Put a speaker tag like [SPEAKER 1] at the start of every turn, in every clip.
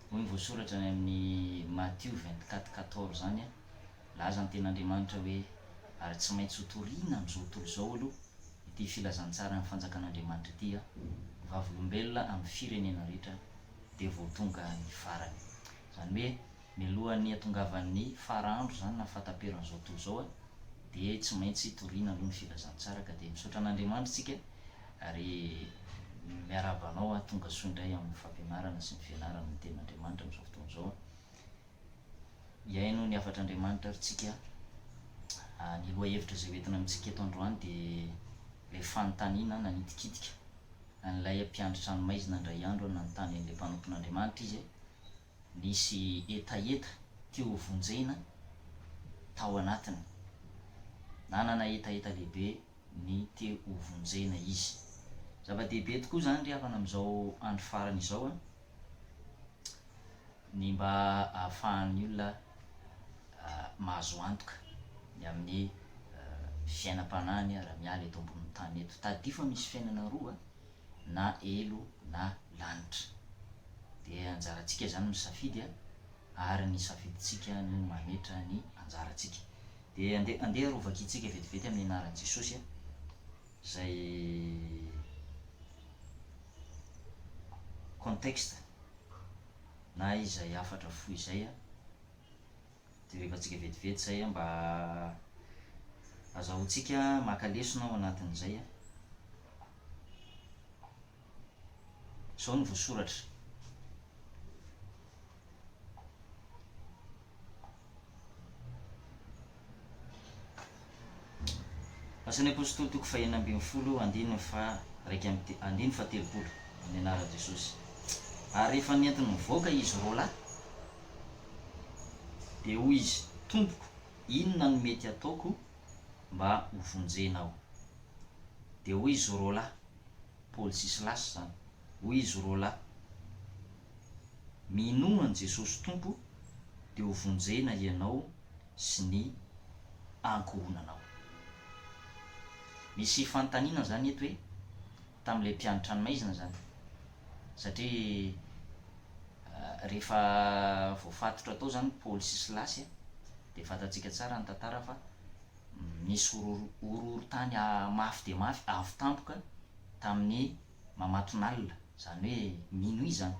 [SPEAKER 1] Hoy ny voasoratra any amin'ny Matio vingt quatre quatorze izany an, Nilaza ny Tenin'Andriamanitra hoe, Ary tsy maintsy hotorina amin'izao tontolo izao aloha ity filazantsaran'ny Fanjakan'Andriamanitra ity an, ny Vavolombelona amin'ny firenena rehetra dia vao tonga ny farany. Izany hoe, Mialohan'ny hatongavan'ny fara andro izany na fahataperan'izao tontolo izao dia tsy maintsy hitoriana aloha ny filazantsara ka dia misaotra an'Andriamanitra isika ary miarahaba anao tonga soa indray amin'ny fampianarana sy ny fianarana ny tenin'Andriamanitra amin'izao fotoana izao. Hihaino ny hafatr'Andriamanitra ary tsika. Ny lohahevitra izay hoentina amintsika eto androany dia ilay fanontaniana nanitikitika an'ilay mpiandry tranomaizina indray andro nanontany an'ilay mpanompon'Andriamanitra izy. Nisy hetaheta teo ho vonjena tao anatiny. Nanana hetaheta lehibe ny te ho vonjena izy. Zava-dehibe tokoa izany ry havana amin'izao andro farany izao an! Ny mba ahafahan'ny olona mahazo antoka ny amin'ny fiainam-panahiny raha miala eto ambonin'ny tany eto. Tadidio fa misy fiainana roa, na elo na lanitra. Dia anjarantsika izany ny misafidy a! ary ny safidintsika no mametra ny anjarantsika. Dia andeha andeha arovaka antsika vetivety amin'ny anaran'i Jesosy a! izay contexte na izay hafatra fohy izay a! dia rehefa antsika vetivety izay a! mba azahoantsika maka lesona ao anatin'izay a! Izao no voasoratra. Asan'ny Apôstôly toko fahenina ambin'ny folo andininy faha iraika amby te- andininy faha telopolo amin'ny anaran'i Jesosy. Ary rehefa nentiny nivoaka izy roa lahy, dia hoy izy, Tompoko, inona no mety hataoko mba ho vonjena ao. Dia hoy izy roa lahy, Paoly sy Silasy izany, hoy izy roa lahy, Minoa an'i Jesosy Tompo, dia ho vonjena hianao sy ny ankohonanao. Misy fanontaniana izany eto hoe, tamin'ilay mpianatra any maizina izany satria rehefa voafatotra tao izany Paoly sy Silasy a dia fantantsika tsara ny tantara fa nisy horohorontany mafy dia mafy avo tampoka tamin'ny mamatonalina izany hoe minuit izany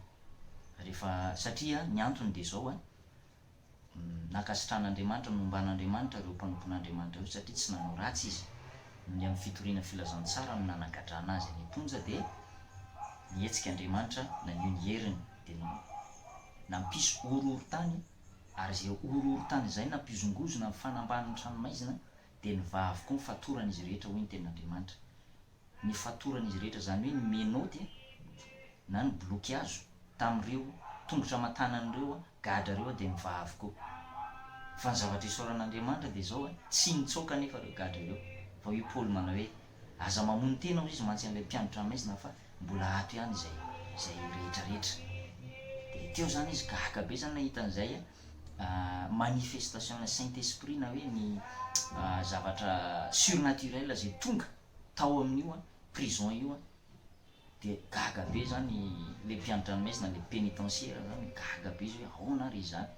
[SPEAKER 1] rehefa satria ny antony dia izao a Nankasitrahan'Andriamanitra, nomban'Andriamanitra ireo mpanompon'Andriamanitra ireo satria tsy nanao ratsy izy. Ny amin'ny fitoriana filazantsara no nanagadrana azy any am-ponja dia nihetsika Andriamanitra naneho ny heriny dia nampisy horohorontany ary izay horohorontany izay nampihozongozona ny fanambanin'ny tranomaizina dia nivaha avokoa ny fatoran'izy rehetra hoy ny tenin'Andriamanitra. ny fatoran'izy rehetra, izany hoe ny menottes na ny blokiazo tamin'ireo tongotra aman-tanan'ireo gadra ireo dia mivaha avokoa. Fa ny zavatra isaoran'Andriamanitra dia izao, tsy nitsoaka anefa ireo gadra ireo. Fa hoy Paoly manao hoe, Aza mamono tena hoy izy mantsy an'ilay mpianatra maizina fa mbola ato ihany izay izay rehetrarehetra. Dia teo izany izy gaga be izany nahita an'izay manifestation-n'ny Saint Esprit na hoe ny zavatra surnaturel izay tonga. tao amin'io prison io dia gaga be zany le mpiandranomaizina le penitenciaire zany gaga be izy hoe aona ary izany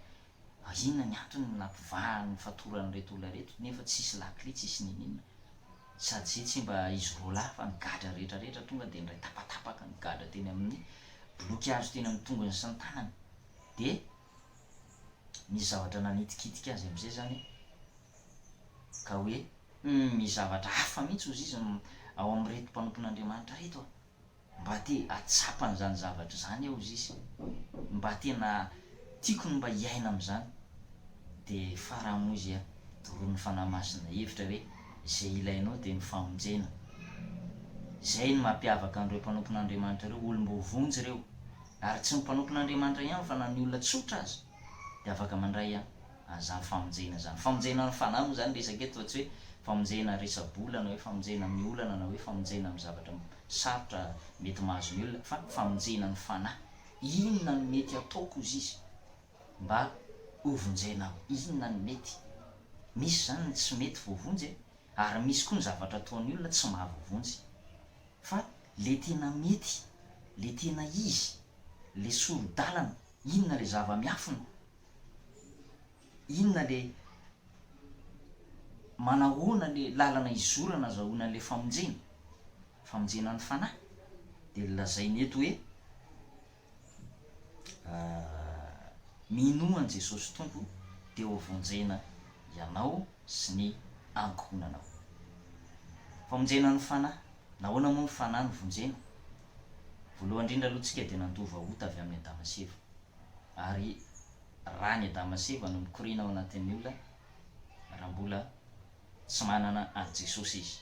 [SPEAKER 1] ary inona ny antony ny nampivahany fatoran'ireto olona ireto nefa tsisy lakile tsisy niniana sady zay tsy mba izy roa lahy fa ny gadra rehetra rehetra tonga dia niray tapatapaka ny gadra teny amin'ny biloky hazo teny amin'ny tongony sy ny tanany dia nisy zavatra nanitikitika azy amin'izay zany ka hoe, Humm, misy zavatra hafa mihitsy hozy izy ao amin'ireto mpanompon'Andriamanitra ireto a! Mba te hahatsapa an'izany zavatra izany aho hozy izy. Mba tena tiako ny mba hiaina amin'izany. Dia farany moa izy a, doronin'ny Fanahy Masina hevitra hoe, Izay ilainao dia ny famonjena. Izay no mampiavaka an'ireo mpanompon'Andriamanitra ireo, olom-boa vonjy ireo. Ary tsy ny mpanompon'Andriamanitra ihany fa na ny olona tsotra aza dia afaka mandray an. zany famonjena zany. Famonjena amin'ny fanahy moa zany resaka eto fa tsy hoe famonjena resa-bola na hoe famonjena amin'ny olana na hoe famonjena amin'ny zavatra sarotra mety mahazo ny olona fa famonjena ny fanahy. Inona no mety ataoko hozy izy mba hovonjena aho? Inona no mety? Misy zany ny tsy mety voavonjy e, ary misy koa ny zavatra ataon'ny olona tsy mahavoavonjy. Fa le tena mety, le tena izy, le soro-dalana, inona le zava-miafina inona le manahoana le lalana izorana azahoana an'ilay famonjena? Famonjena ny fanahy. Dia lazainy eto hoe minoa an'i Jesosy Tompo dia ho vonjena ianao sy ny ankohonanao. Famonjena ny fanahy. Nahoana moa ny fanahy no vonjena? Voalohany indrindra aloha tsika dia nandova ota avy amin'i Adama sy Eva. ary raha ny Adama sy Eva no mikoriana ao anatin'ny olona raha mbola tsy manana an'i Jesosy izy.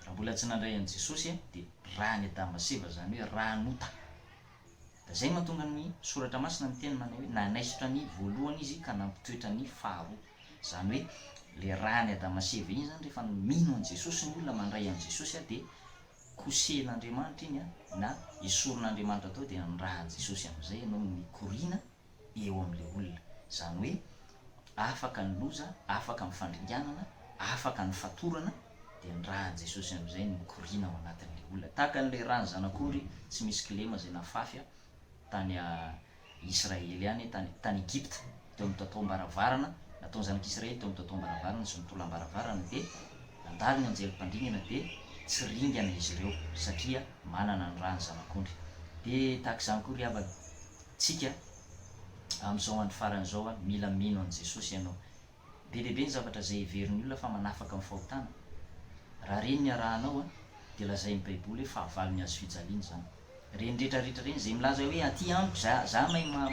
[SPEAKER 1] Raha mbola tsy nandray an'i Jesosy dia raha ny Adama sy Eva izany hoe raha nota. Dia izay mahatonga ny soratra masina miteny manao hoe nanaisotra ny voalohany izy ka nampitoetra ny faharoa. Izany hoe ilay raha ny Adama sy Eva iny izany rehefa mino an'i Jesosy ny olona mandray an'i Jesosy dia kosehin'Andriamanitra iny an, na esorin'Andriamanitra tao dia nirahan'i Jesosy amin'izay ianao no mikoriana eo amin'ilay olona. Izany hoe afaka ny loza, afaka ny fandringanana, afaka ny fatorana, dia nirahan'i Jesosy amin'izay ny mikoriana ao anatin'ilay olona. Tahaka an'ilay rà ny zanak'ondry tsy misy kilema izay nafafy tany Israely any tany tany Egypta, teo amin'ny totoam-baravarana, nataon'ny zanak'Israely teo amin'ny totoam-baravarana sy ny tolambaravarana dia nandalo ny anjely mpandringana dia tsy ringana izy ireo satria manana ny ra ny zanak'ondry. Dia tahaka izany koa ry havana, tsika amin'izao andro farany izao an, mila mino an'i Jesosy ianao, Be dia be ny zavatra izay heverin'ny olona fa manafaka amin'ny fahotana. Raha ireny ny arahanao, dia lazain'ny Baiboly hoe fahavalo ny hazo fijaliana izany. Ireny rehetra rehetra ireny, izay milaza hoe aty amiko, za, za mahay ma,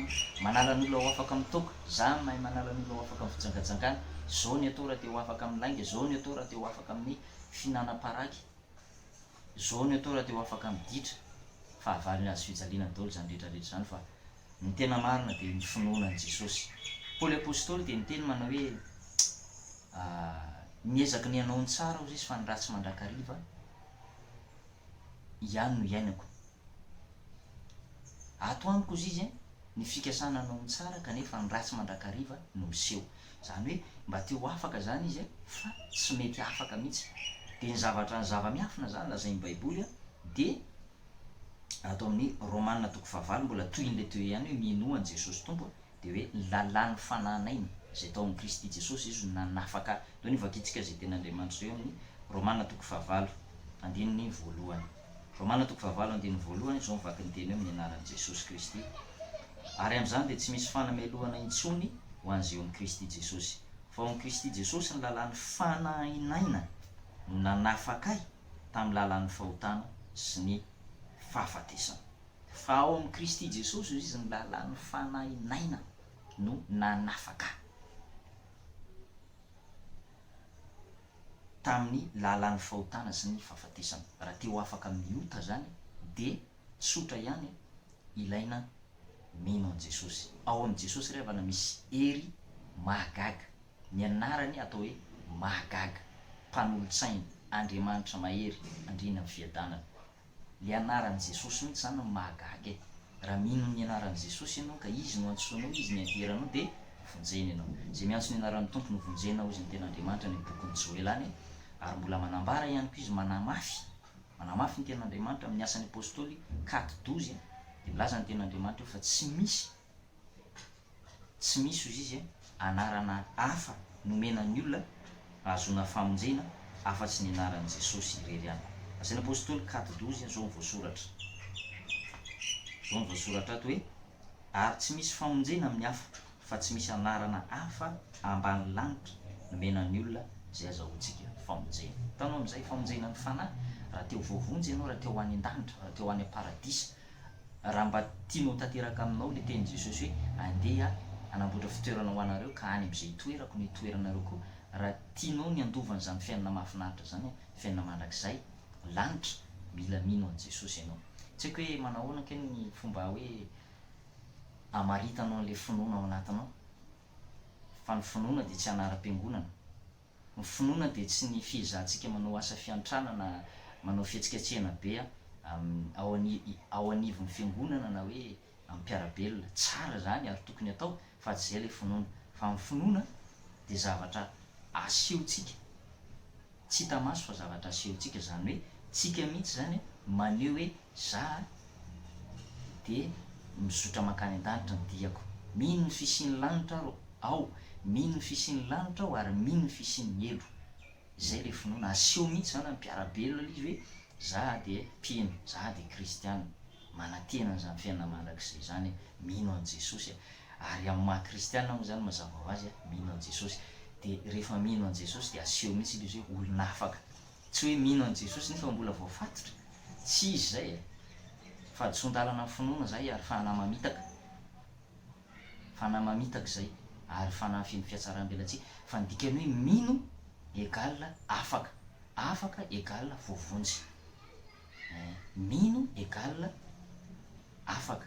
[SPEAKER 1] manala ny olona ho afaka amin'ny toaka, za mahay manala ny olona ho afaka amin'ny fijangajangana, zao ny atao raha te ho afaka amin'ny lainga, zao ny atao raha te ho afaka amin'ny fihinanam-paraky, zao ny atao raha te ho afaka amin'ny ditra. Fahavalo ny hazo fijaliana daholo izany rehetra rehetra izany fa Ny tena marina dia ny finoana an'i Jesosy. Paoly Apostoly dia niteny manao hoe, Niezaky ny hanao ny tsara aho zisy fa ny ratsy mandrakariva ihany no iainako. Ato amiko hozy izy ny fikasana hanao ny tsara kanefa ny ratsy mandrakariva no miseho. Izany hoe mba te ho afaka izany izy fa tsy mety afaka mihitsy. Dia ny zavatra ny zava-miafina izany lazain'ny Baiboly dia. ato amin'ny Romana toko fahavalo mbola tohin'ilay teo ihany hoe minoa an'i Jesosy Tompo dia hoe lalàn'ny fanahy naina izay tao amin'i Kristy Jesosy Izy no nanafaka ahy. Teo ny vakintsika izay tenin'Andriamanitra teo amin'ny Romana toko fahavalo andininy voalohany. Romana toko fahavalo andininy voalohany izao mivaky ny teny hoe amin'ny anaran'i Jesosy Kristy. Ary amin'izany dia tsy misy fanamelohana intsony ho an'izay eo amin'i Kristy Jesosy. Fa ao amin'i Kristy Jesosy ny lalàn'ny fanahy naina no nanafaka ahy. tamin'ny lalan'ny fahotana sy ny fahafatesana. Fa ao amin'i Kristy Jesosy hoy izy ny lalan'ny fanahy naina no nanafaka ahy tamin'ny lalan'ny fahotana sy ny fahafatesana. Raha te ho afaka amin'ny ota izany dia. Tsotra ihany e, ilaina mino an'i Jesosy. Ao amin'i Jesosy ry havana misy hery mahagaga. Ny anarany atao hoe mahagaga, mpanolotsaina, Andriamanitra mahery, andriana amin'ny fiadanana. Ilay anaran'i Jesosy mihitsy izany no mahagaga e. Raha mino ny anaran'i Jesosy ianao ka Izy no antsoinao, Izy ny aderanao dia vonjena ianao. Izay miantso ny anaran'ny Tompo no vonjena hoy izay ny Tenin'Andriamanitra any amin'ny bokin'i Joela any ary mbola manambara ihany koa Izy manamafy, Manamafy ny Tenin'Andriamanitra amin'ny Asan'ny Apôstôly, kat. Doze, dia milaza ny Tenin'Andriamanitra eo fa tsy misy, tsy misy, hoy izy, anarana hafa nomena ny olona hahazoana famonjena afa-tsy ny anaran'i Jesosy irery ihany. Asan'ny Apôstôly, kat. Doze, izao no voasoratra, izao no voasoratra ato hoe. Ary tsy misy famonjena amin'ny hafa, fa tsy misy anarana hafa ambany lanitra nomena ny olona izay azahoantsika famonjena. Hitanao amin'izay, famonjena ny fanahy, raha te ho voavonjy ianao, raha te ho any an-danitra, raha te ho any am-paradisa, raha mba tianao ho tanteraka aminao ilay tenin'i Jesosy hoe, Andeha hanamboatra fitoerana ho anareo, ka any amin'izay hitoerako no hitoeranareo koa, raha tianao ny handova an'izany fiainana mahafinaritra izany, fiainana mandrakizay, ny lanitra, mila mino an'i Jesosy ianao. Tsy haiko hoe manahoana kay ny fomba hoe hamaritanao an'ilay finoana ao anatinao, fa ny finoana dia tsy anaram-piangonana. Ny finoana dia tsy ny fiezahantsika manao asa fiantrana na manao fihetsiketsehana be ao anivon'ny fiangonana na hoe amin'ny mpiara-belona, tsara izany ary tokony atao fa tsy izay ilay finoana, fa ny finoana dia zavatra asehontsika, tsy hita maso fa zavatra asehontsika, izany hoe tsika mihitsy izany maneho hoe za dia mizotra mankany an-danitra ny diako, mino ny fisian'ny lanitra aho, mino ny fisian'ny lanitra aho ary mino ny fisian'ny helo, izay ilay finoana, aseho mihitsy izany amin'ny mpiara-belona ilay izy hoe za dia mpino, za dia kristiana. Manantena an'izany fiainana mandrakizay izany e, mino an'i Jesosy e. Ary amin'ny maha kristiana moa izany mazava ho azy a, mino an'i Jesosy. Dia rehefa mino an'i Jesosy dia aseho mihitsy ilay izy hoe olona afaka. Tsy hoe mino an'i Jesosy nefa mbola voafatotra. Tsy izy izay e. Fahadisoan-dalana ny finoana izay ary fanahy mamitaka. Fanahy mamitaka izay ary fanahy feno fihatsaram-belatsihy. Fa ny dikan'ny hoe mino égale afaka. Afaka égale voavonjy. Mino égale afaka,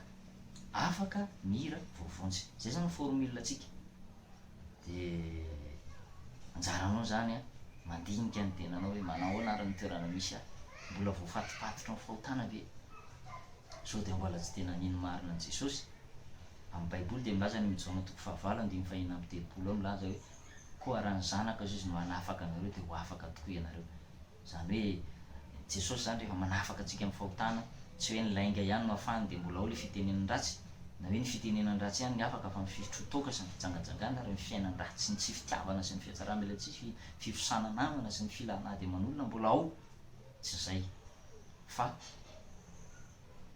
[SPEAKER 1] afaka mira voavonjy. Zay zany formule tsika. De anjaranao zany an, mandinika ny tenanao hoe manao ahoana ary ny toerana misy ahy? Mbola voafatopatotra ny fahotana ve? Sao dia mbola tsy tena mino marina an'i Jesosy? Amin'ny Baiboly dia milaza any amin'ny Jaona toko fahavalo andininy fah'enina amby telopolo ao milaza hoe, Koa raha ny Zanaka Jesosy no hanafaka anareo dia ho afaka tokoa ianareo. Izany hoe Jesosy izany rehefa manafaka antsika amin'ny fahotana, tsy hoe ny lainga ihany no afahany dia mbola ao ilay fitenenan'ny ratsy, na hoe ny fitenenan'ny ratsy ihany ny afaka fa ny fifitro toaka sy ny fijangajangana ary ny fiainan-dratsy sy ny tsy fitiavana sy ny fihatsarambela tsy hisy, fifosana namana sy ny filana ady aman'olona mbola ao, tsy izay fa.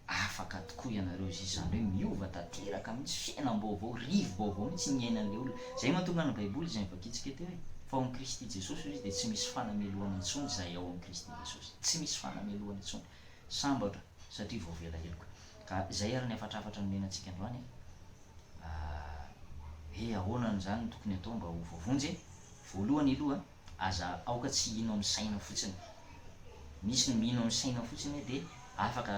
[SPEAKER 1] Afaka tokoa ianareo izay izany hoe miova tanteraka mihitsy, fiainam-baovao, rivo-baovao mihitsy ny iainan'ilay olona. Izay mahatonga ny Baiboly izay novakiantsika teo hoe, Fa ao amin'i Kristy Jesosy hoy izy dia tsy misy fanamelohana intsony izay ao amin'i Kristy Jesosy. Tsy misy fanamelohana intsony. Sambatra satria voavela heloka. Ka izay ary ny hafatrafatra nomena antsika androany e. Hoe ahoana izany no tokony hatao mba ho voavonjy e? Voalohany aloha Aza aoka tsy hino amin'ny saina fotsiny. Misy ny mino amin'ny saina fotsiny hoe dia afaka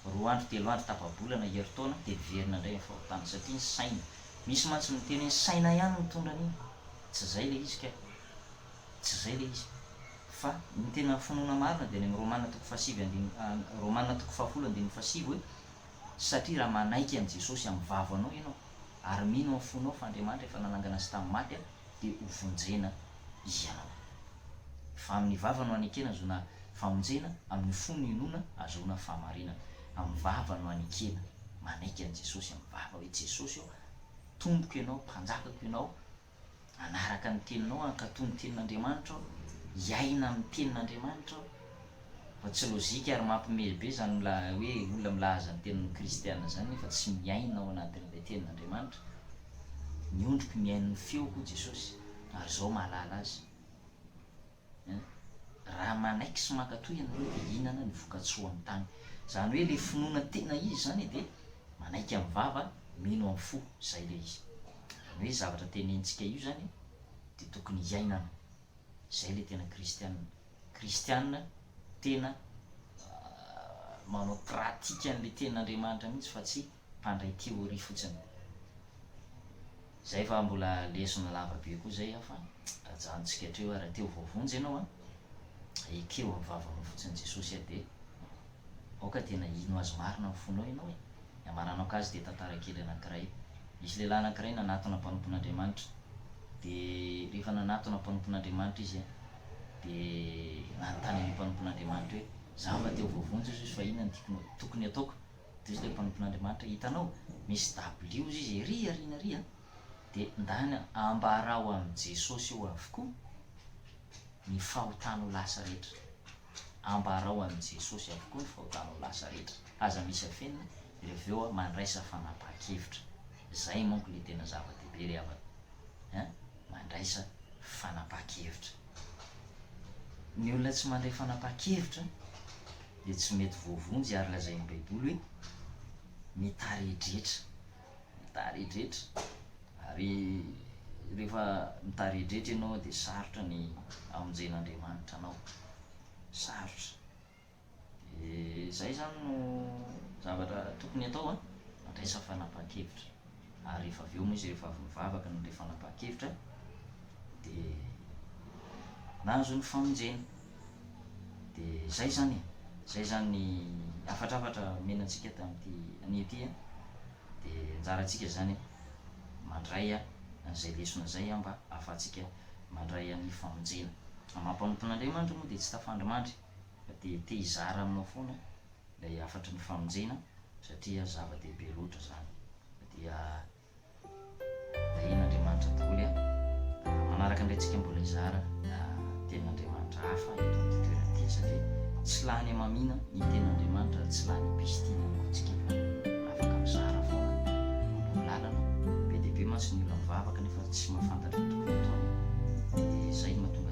[SPEAKER 1] roa andro, telo andro, tapa-bolana, herintaona dia miverina indray ny fahotana satria ny saina. Misy mantsy ny miteny hoe ny saina ihany no mitondra an'iny. Tsy izay ilay izy kay. Tsy izay ilay izy. Fa ny tena finoana marina dia any amin'ny Romana toko fahasivy andininy, Romana toko fahafolo andininy fahasivy hoe, Satria raha manaiky an'i Jesosy amin'ny vavanao ianao ary mino amin'ny fonao fa Andriamanitra efa nanangana azy tamin'ny maty, dia ho vonjena ianao. Fa amin' ny vava no anekena azoana famonjena, amin' ny fo no inoana ahazoana fahamarinana. Amin' ny vava no anekena, manaiky an' i Jesosy amin' ny vava hoe, Jesosy ô, Tompoko Ianao, Mpanjakako Ianao, hanaraka ny Teninao, hankatò ny Tenin' Andriamanitra aho, hiaina amin' ny Tenin' Andriamanitra aho. Fa tsy lojika ary mampimely be izany mila hoe olona milaza ny tenany ho kristiana izany nefa tsy miaina ao anatin'ilay tenin'Andriamanitra. Ny ondriko mihaino ny feoko hoy Jesosy ary izao mahalala azy. Ein. Raha manaiky sy mankatoa ianareo dia hihinana ny voka-tsoa amin'ny tany. Izany hoe ilay finoana tena izy izany dia manaiky amin'ny vava, mino amin'ny fo. Izay ilay izy. Izany hoe io zavatra tenenintsika io izany dia tokony hiainana. Izay ilay tena kristiana. Kristiana tena manao pratique an'ilay tenin'Andriamanitra mihitsy fa tsy mpandray théorie fotsiny. Zay fa mbola lesona lava be koa zay an fa ajanontsika hatreo ary raha te ho voavonjy ianao an, ekeo amin'ny vavanao fotsiny Jesosy an dia. Aoka tena hino Azy marina amin'ny fonao ianao e! Ny hamaranako azy dia tantara kely anankiray. Nisy lehilahy anankiray nanatona mpanompon'Andriamanitra. Dia rehefa nanatona mpanompon'Andriamanitra izy an, dia nanontany an'io mpanompon'Andriamanitra hoe, Izaho mba te ho voavonjy hozy fa inona no tokony ataoko? Dia hozy ilay mpanompon'Andriamanitra, Hitanao, misy dabilio hozy izy ery aoriana ery an, dia ndany ambarao amin'i Jesosy eo avokoa ny fahotanao lasa rehetra. Ambarao an'i Jesosy avokoa ny fahotanao lasa rehetra. Aza misy afenina dia avy eo mandraisa fanapahan-kevitra. Izay manko ilay tena zava-dehibe ry havana an! Mandraisa fanapahan-kevitra. Ny olona tsy mandray fanapahan-kevitra dia tsy mety voavonjy ary lazain'ny Baiboly hoe mitaredretra. mitaredretra ary rehefa mitaredretra ianao dia sarotra ny amonjen'Andriamanitra anao, sarotra. Dia izay izany no zavatra tokony atao an, mandraisa fanapahan-kevitra. Ary rehefa avy eo moa izy rehefa avy nivavaka ny ilay fanapahan-kevitra dia nahazo ny famonjena. Dia izay izany e! Izay izany ny hafatrafatra omena antsika tamin'ity anio ity a! Dia anjarantsika izany mandray an'izay lesona izay mba ahafahantsika mandray an'ny famonjena. Amam-panompoan'Andriamanitra moa dia tsy tafandrimandry fa dia te hizara aminao foana ilay hafatry ny famonjena satria zava-dehibe loatra izany. Dia. Ahiana Andriamanitra daholo a! Manaraka indray tsika mbola hizara tenin'Andriamanitra hafa eto amin'ity toerana ity satria tsy lany hamamiana ny tenin'Andriamanitra ary tsy lany pistina ihany koa tsika fa afaka mizara foana manao lalana be dia be mantsy ny olona mivavaka nefa tsy mahafantatra ny tokony hataony dia izay no mahatonga